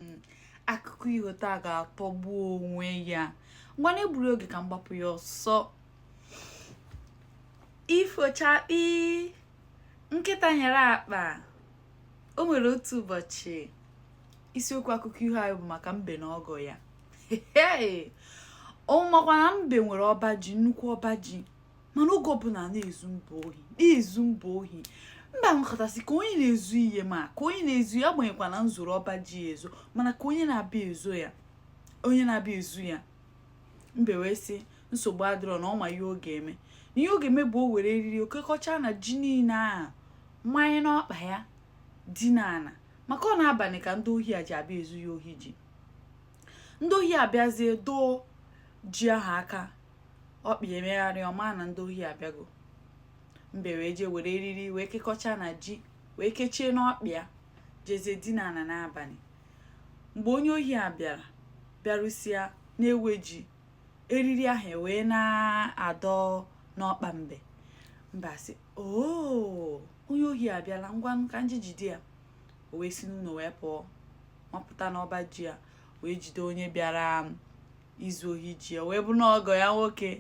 hmm, akụkọ iho taa ga-atọgbu onwe ya ngwa n'egburo oge ka m gbapụ ya ọsọ ifochakpi nkịta nyere akpa o nwere otu ụbọchị isiokwu akụkọ iho anyị bụ maka mbe na ọgọ ya unu makwa na mbe nwere ọba ji nnukwu ọba ji mana oge ọbụla na-ezu mbe ohi na-ezu mbe ohi mbe nọkata sị ka onye na-ezu ihe ma ka onye na-ezu ya agbanyeghịkwa na m zoro ọba ji ya ezo mana ka onye na-abịa ezu ya onye na-abịa ezu ya mbe wee sị nsogbu adịrọ na ọ ma ihe ọ ga-eme na ihe ọ ga-eme bụ o were eriri o kekọcha na ji niile a manye n'ọkpa ya dina ana maka ọ n'abalị ka ndị ohi a ji abịa ezu ya ohi ji ndị ohi abịazie dọọ ji ahụ aka ọkpa ya emegharị ọ ma na ndị ohi abịago mbe wee jee were eriri wee kekọcha na ji wee kechie n'ọkpa ya jezie dina ana n'abalị mgbe onye ohi a bịara bịarụsịa na-ewe ji eriri ahụ ewee na-adọ n'ọkpa mbe mbe asị oo onye ohi abịala ngwa ka m jee jide ya o wee si n'ụlọ wee pụọ mapụta n'ọba ji ya wee jide onye bịara izu ohi ji ya wee bụ na ọgọ ya nwoke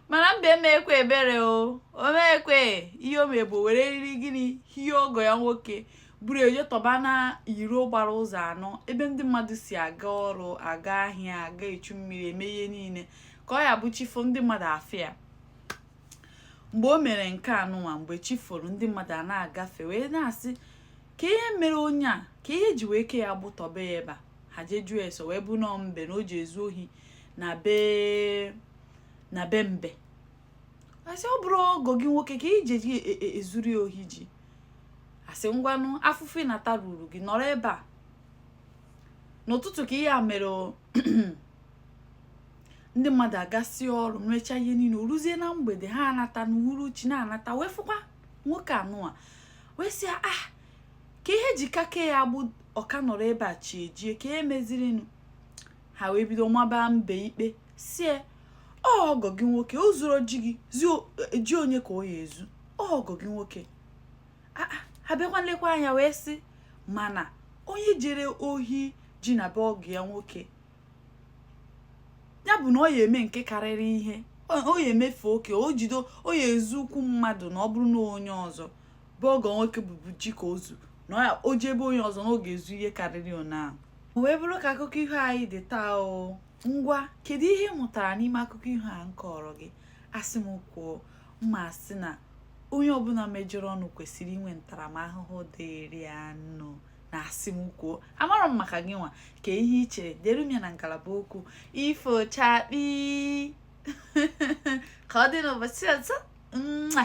mana mbe emekwe ebere o mekwe ihe o mebu were eriri gịnị hie ọgọ ya nwoke buru ya jee tọba na iro gbara ụzọ anọ ebe ndị mmadụ si aga ọrụ aga ahịa aga echu mmiri eme ihe niile ka ọ ya bụ chi fo ndị mmadụ afụ ya mgbe o mere nke anụnwa mgbe chi foro ndị mmadụ a na-agafe wee na-asị ka ihe mere onye a ka ihe e ji wee ke ya agbụ tọbe ya ebe a ha jee jụọ ese o wee bụ na ọgọ mbe na o ji ezu ohi na be na be mbe asị ọ bụrụ ọgọ gị nwoke ka i je ji e, e, ezuru ya ohi ji asị ngwanụ afụfụ ị na-ata ruru gị nọrọ ebe a n'ụtụtụ ka ihe a mere ndị mmadụ agasịa ọrụ mechaa ihe niile o ruzie na mgbede ha anata n'uhuruchi na-anata wee fụkwa nwoke anụnwa wee sị ah ka ihe e ji ka ke ya agbụ ọ ka nọrọ ebe a chi ejie ka ihe mezirinụ ha wee bido maba mbe ikpe sị ya ọgọ gị nwoke o zuro ji gị ji onye ka ọ ya-ezu ọgọ gị nwoke ah, ah, ha bịakwa nlekwa anya wee sị mana onye jere ohi ji na be ọgọ ya nwoke ya bụ na ọ ya eme nke karịrị ihe o ya emefe oke o jido o ya ezu ukwu mmadụ na ọ bụrụ na onye ọzọ bụ ọgọ nwoke bụbu ji ka o zu na o jee be onye ọzọ na ọ ga-ezu ihe karịrị ọna ahụ wee bụrụ ka akụkọ iho anyị dị taa o ngwa kedu ihe ị mụtara n'ime akụkọ iho a m kọrọ gị a sị m kwuo mma asị na onye ọbụla mejọrọnụ kwesịrị inwe ntaramahụhụ dịrị anụ na a sị m kwuo amarọ m maka gị nwa kee ihe i chere deere m ya na ngalaba okwu ifo chakpii ka ọ dị n'ụbọchị ọzọ nwa